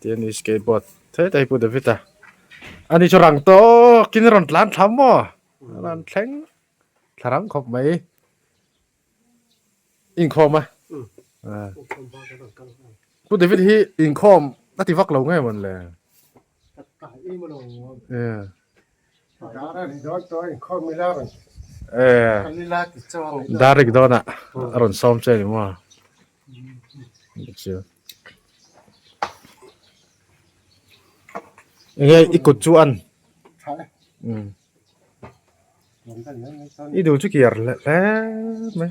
Tiani skateboard thet a hi pu David a ani chu rang tawkin rawn tlan thlam maw a rawn thleng thlarang khawp mai inkhawm a pu David hi inkhawm a ti vak lo ngei mawn le Darik dawn ah a rawn sawm che ni maw? Eng nge i kut chu an i duh chu kiar hle hle mai.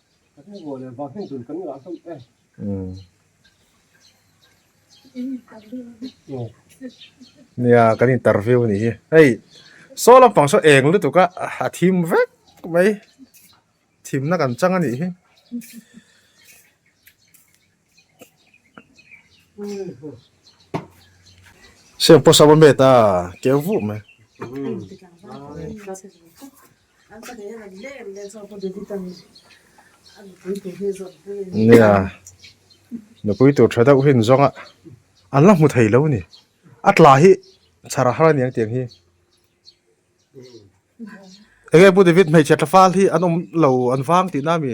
Nia kan interview a nih hi hei saw lampang saw eng lutuk a a thim vek mai thimna kan chang a nih hi. Siam pawh sava met a keu vuh mai. Nia nupui tur tha deuh hi an zawng a an la hmu thei lo a ni. A tla hi chhara har a ni ang tiang hi enge pu David hmeichhe tla fal hi an awm lo an vang tihna a mi.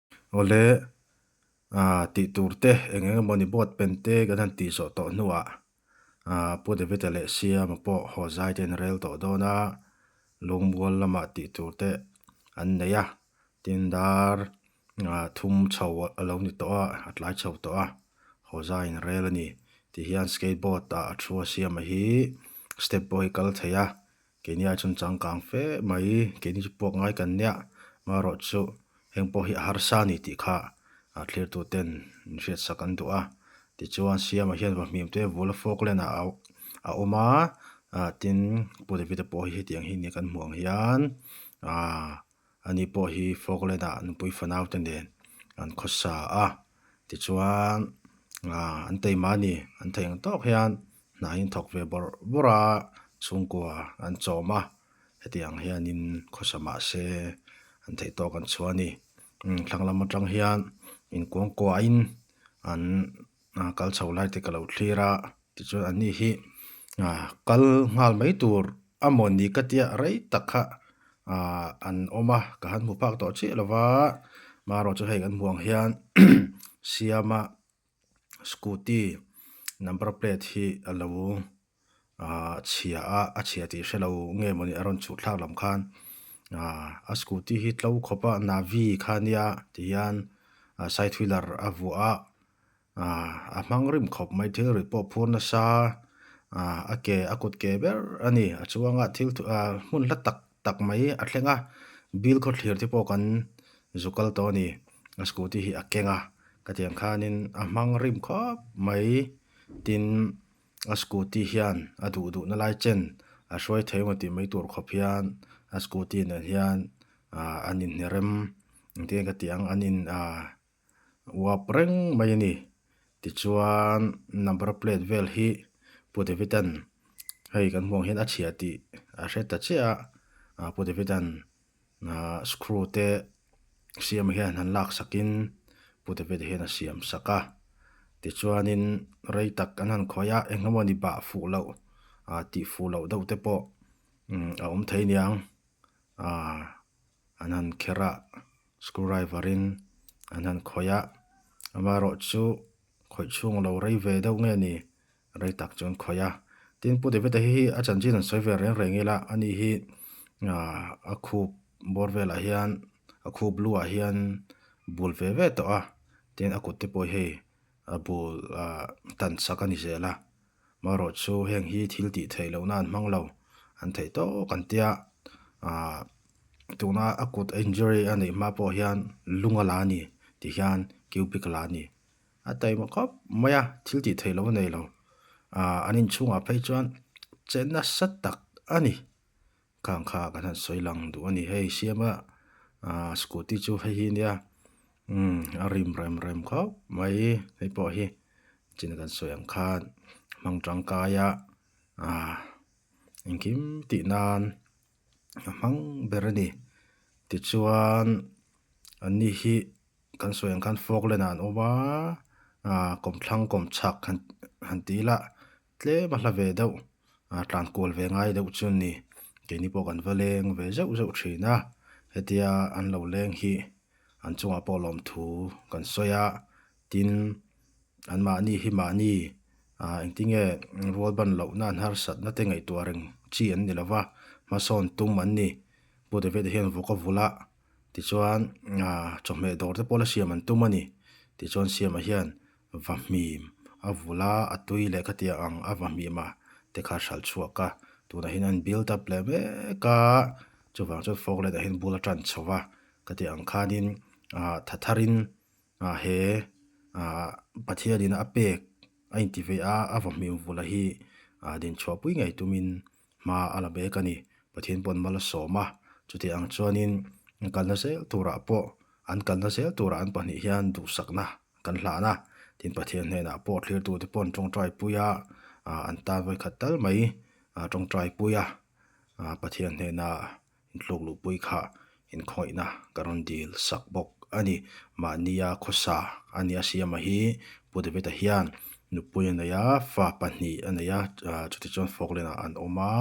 Awle, aa, tih tur te, eng eng emaw ni bawt pen te kan han tih zawh tawh hnu ah, aa, Pu David-a leh Siama pawh haw zai te an rel tawh dawn a, Lungmual lamah tih tur te an nei a, tin dar, aa, thum chho a lo ni tawh a, a tlai chho tawh a, haw zai in rel a ni. Ti hian skateboard ah a thu a Siama hi step pawh hi kal thei a, Keini a chhun chang kang fe mai, keini chu puak ngai kan nia, marawh chu heng pawh hi a harsa a ni tih kha a thlirtuten in hriatsak an duh a, tichuan Siama hian vahmim te vul a fawk len ah a awm a, tin Pu David-a pawh hi hetiang hi a ni a kan hmuh ang hian, aah Ani pawh hi Falkland-a nupui fanaute nen an khaw sa a, tichuan an teima ni an theih ang tawk hian hnah in thawk ve bawrh bawrh a chhungkua an chawm a, heti ang hian in khaw sa mah se an theih tawk an chhuah a ni. Thlanglam atang hian in kuangkuahin an ah kal chho lai te ka lo thlir a, tichuan an nih hi ah kal nghal mai tur a maw ni ka tia rei tak kha ah an awm a, ka han hmu phak tawh chiah lo va, marawh chu hei kan hmuh ang hian Siama scooty number plate hi a lo. chhia a, a chhia tih hre lo nge mawni a rawn chuthlak lam khan a scooty hi tlo khawp a Navy kha a nia tih hian side wheeler a vuah a a hmang rim khawp mai thilri pawh phur nasa a ke a kut ke ber a ni a chuanga thil hmun hla tak tak mai a thleng a bil khawthlir te pawh kan zu kal tawh a ni a scooty hi a keng a ka tiang khanin a hmang rim khawp mai tin-- A scooty hian a duh duh na lai chen a hruai thei emaw tih mai tur khawp hian a scooty nen hian ahh an inhne rem engtin ka tih ang an in ahh uap reng mai a ni tichuan number plate vel hi Pu Davidan hei kan hmuh ang hian a chhia tih a hre ta chiah a Pu Davidan-- Ahh screw te siam hian han lak sak in puta vet hian a siam sak a, tichuan in rei tak an han khawi a, eng emaw ni bah fuh loh ahh tih fuh loh deuh te pawh umm a awm thei niang ahh an han kher a, screw driver in an han khawi a, amaherawhchu khawih chhung lo rei ve deuh nge ni? Rei tak chuan khawih a, tin Pu David-a hi a chanchin an sawi ve reng reng ila, a ni hi a khup bawr velah hian, a khup luah hian bul ve ve tawh a, tin a kut te pawh hei a bul tan sak a ni zel a, marawh chu heng hi thil tih theih lohna an hmang lo, an theih tawk an tia, tuna a kut injury a neih hma pawh hian lung a la a ni, ti hian cubic a la a ni. A taima khawp mai a, thil tih theih lo a nei lo. Aaa, an inchhungah phei chuan che nasa tak a ni. Khang kha kan han sawi lang duh a ni. Hei Siama aaa scooty chu hei hi a nia, umm a rim rem rem khawp mai. Hei pawh hi chin kan sawi ang khan hmang tangkai a aaa engkim tih nan a hmang ber a ni. Tichuan an ni hi. Kan sawi ang khan Falkland-ah an awm a, aah kawm thlang kawm chhak han han ti ila, tlem a hla ve deuh, aah tlan kual ve ngai deuh chu a ni. Keini pawh kan va leng ve zeuh zeuh thin a, hetia an lo leng hi an chungah pawh lawmthu kan sawi a, tin anmahni hi mahni aah engtinge rualban lohna an harsatna te ngaihtuah reng chi an ni lova, hmasawn tum an ni. Pu David-a hian vawk a vul a, tichuan aaa chawhmeh dawr te pawhla siam an tum a ni tichuan siam ah hian va hmim a vul a a tui leh ka ti a ang a va hmim a tikha a hralh chhuak a tunah hin a in build up leh mek a chuvang chuan fog light ah hian bula tan chho va ka tih ang khanin aaa tha thar in aaa he aaa pathian in a pek a inti ve a a va hmim vul a hi aa din chhuah pui ngei tum in-- Hma a la bek a ni. Pathian pawh an mal a sawm a. Chutih ang chuanin an kal nazel turah pawh, an kal nazel turah an pahnih hian duhsakna kan hlan a. Tin, Pathian hnenah pawh thlirtute pawh an tawngtai pui a, an tan vawi khat tal mai a tawngtai pui a. Pathian hnenah Intluk luhpui kha inkhawihna ka rawn dil sak bawk a ni. Mahnia khawsa a nia siama hi Pu David-a hian nupui a nei a, fa pahnih a nei a, chuti chuan Falkland-ah an awm a,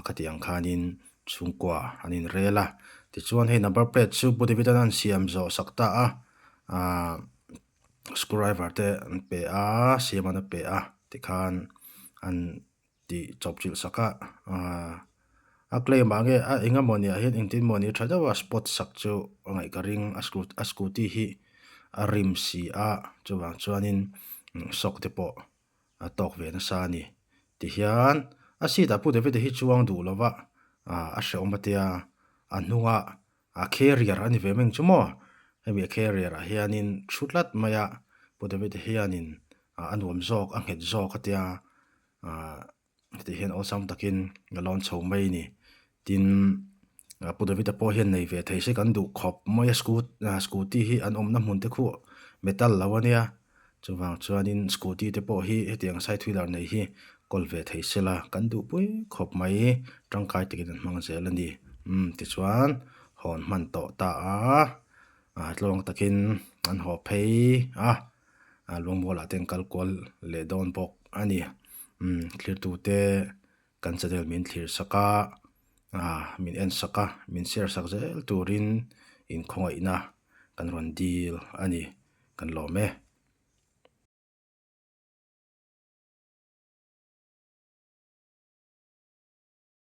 khati ang khanin chhungkua an inrel a. Tichuan hei number plate chu Pu David-an a rawn siam zawh sak ta a, screw driver te an pe a, siam an a pe a tikhan an. Tih chawp chilh sak a, a claim ah nge a eng emaw nia hian engtin maw ni tha deuh a spot sak chu a ngaih ka ring a scooty hi a rim si a chuvang chuanin shock te pawh a tawk ve nasa a ni tihian a seat ah pu David a hi chuang duh lova a hreawm a tia a hnungah A carrier a ni ve meng chu maw? Hemi a carrier ah hianin thu tlat mai a Pu David-a hianin a nuam zawk, a nghet zawk a tia, hetiang hian awlsam takin a lawn chho mai a ni. Tin, Pu David-a pawh hian nei ve thei se kan duh khawp mai a, scooty hi an awmna hmun te khu metal lo a nia. Chuvang chuanin scooty te pawh hi hetiang a saithui dar nei hi call ve thei sela kan duh pui khawp mai tangkai takin an hmang zel a ni umm tichuan hawn hman tawh ta a ah tlawng takin an haw phei a ah lungmual ah te an kal kual leh dawn bawk a ni umm thlir tute-- Kan channel min thlir sak a, min en sak a, min share sak zel turin in khawngaihna kan rawn dil a ni. Kan lawm e.